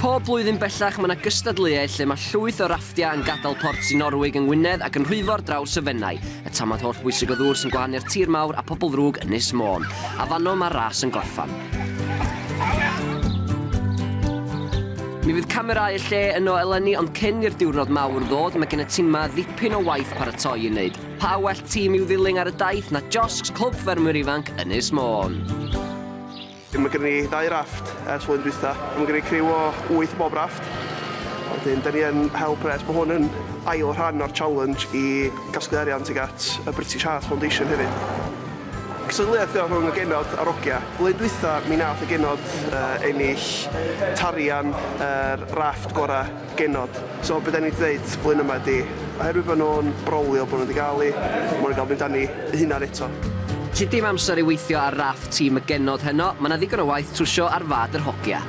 Pob blwyddyn bellach mae 'na gystadleuaeth lle mae llwyth o rafftiau yn gadael Port Sir Norwig yng Ngwynedd ac yn rhwyfo ar draws y Fenai, y tamad holl bwysig o ddŵr sy'n gwahanu'r tir mawr a phobl ddrwg Ynys Môn. A fanno mae'r ras yn gorffan. Mi fydd camerâu y lle yno eleni ond cyn i'r diwrnod mawr ddod mae gen y tîm 'ma ddipyn o waith paratoi i wneud. Pa well tîm i'w ddilyn ar y daith na josgs Clwb Ffermwyr Ifanc Ynys Môn? Mae gennym ni ddau rafft ers flwyddyn dwytha. Mae gennym ni criw o wyth o bob rafft. Wedyn, da ni yn hel pres bod hwn yn ail rhan o'r challenge i gasglu arian tuag at y British Heart Foundation hefyd. Cystadleuaeth yw rhwng y genod a'r ogia. Flwyddyn dwytha, mi nath y genod ennill tarian yr rafft gora. genod. So be da ni 'di ddeud blwyddyn yma ydi, oherwydd bod nhw'n brolio bod nhw 'di gael hi, maen nhw'n gael mynd â ni eu hunain eto. Felly dim amser i weithio ar raff tîm y genod heno, mae 'na ddigon o waith trwsio ar fad yr hogia.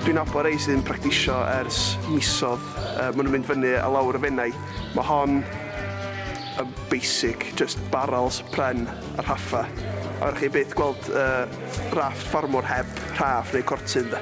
Dwi'n nabod rhai sydd yn practisio ers misoedd, yy maen nhw'n mynd fyny a lawr y Fenai, mae hon yn basic, jyst barrels, pren a rhaffau. A fedrwch chi byth gweld yy rafft ffarmwr heb rhaff neu cortyn de.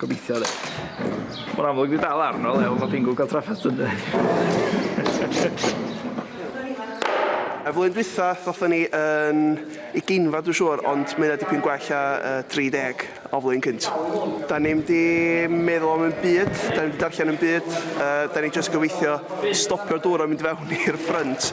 Gobeithio de. Mae'n amlwg di dal arno le ond mae Pingo cael trafferth yn de. Y flwyddyn dwytha ddothon ni yn ugeinfa dwi'n siŵr ond mae hynna dipyn gwell a y 30 o flwyddyn cynt. Da ni'm di meddwl am ddim byd, da ni'm di darllen ddim byd, yy da ni jyst gobeithio stopio'r dŵr o mynd fewn i'r ffrynt.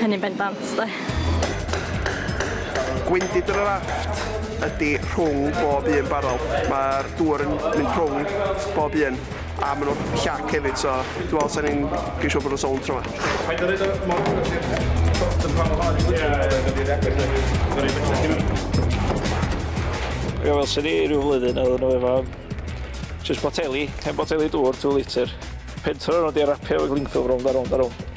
Hynny'n bendant, de. Gwendid yr Arafft ydy rhwng bob un barel. Mae'r dŵr yn mynd rhwng bob un, a maen nhw'n llac hefyd, so dwi'n meddwl sa'n ni'n gwneud siŵr bod nhw'n sownd tro yma. Paid â rhoid o mor agos i'r top yn parhaol i fyny, mae'n mynd i'r agos na roi bellach i fyny. Ie, wel, swn i ryw flwyddyn yn dod nhw efo jyst boteli, hen boteli dŵr, two litre. Pentro nhw 'di a rapio efo glingffilm rownd a rownd a rownd.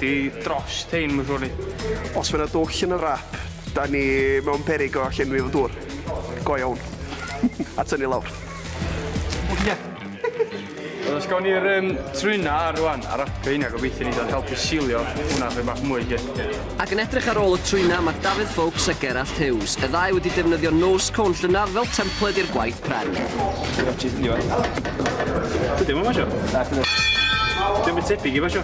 'di drost rhein ma' siŵr i ni. Os ma' 'na dwll yn y wrap, 'dan ni mewn peryg o llenwi fo dŵr. Go iawn. A tynnu lawr. Oce. Wel os gawn ni'r yym trwyn 'na ar rŵan a rapio heina gobeithio neith o helpu silio hwnna chydig bach mwy 'lly. Ac yn edrych ar ôl y trwyna ma' Dafydd Foulkes a Gerallt Hughes, y ddau wedi defnyddio nose cone llynadd fel templed i'r gwaith pren. Dydi o'm yn basio. Nacdi. Dio'm byd tebyg i basio.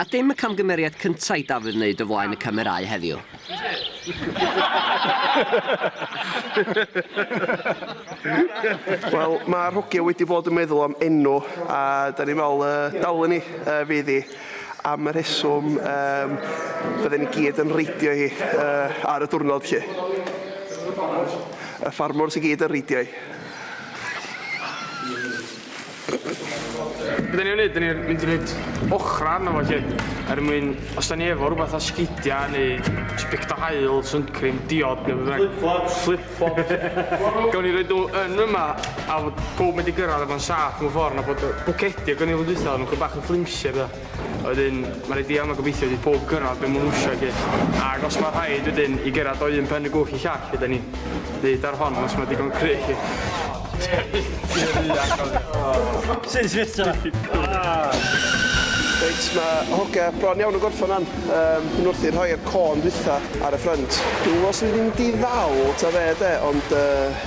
A dim y camgymeriad cynta' i Dafydd wneud o flaen y camerâu heddiw. Wel, mae'r hogia wedi bod yn meddwl am enw, a da ni'n meddwl y dawlen ni yy fydd hi. Am y rheswm yym fydden ni gyd yn reidio hi yy ar y diwrnod 'lly. Y ffarmwrs i gyd yn reidio hi. Be da ni'n mynd? Da ni'n mynd i wneud ochra arno fo lly. Er mwyn, os da ni efo rhywbeth o sgidiau neu sbict o haul, suncream, diod neu beth bynnag. Flip-flops. Flip-flops. Gawn ni roed nhw yn yma a fod pawb mynd i gyrraedd efo'n saff mewn ffordd na bod y bwcedi o gynilydd dwytha oedden nhw'n bach yn flimsy a petha. Wedyn, mae rhaid i Alma gobeithio i pob gyrraedd be maen nhw eisiau i gyd. Ac os mae rhaid wedyn i gyrraedd o un pen y gwch i llall, ydy ni. Nid ar hon, os mae digon cry chi. Sy'n switio? Reit, mae hogia bron iawn yn gorffan an. Um, yn wrth i rhoi'r côn dwytha ar y ffrynt. Dwi os yn mynd i ddal ta fe de, ond uh,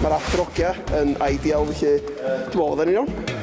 Mae'r Athro Gia yn ideal felly dwi'n meddwl fydden ni'n iawn.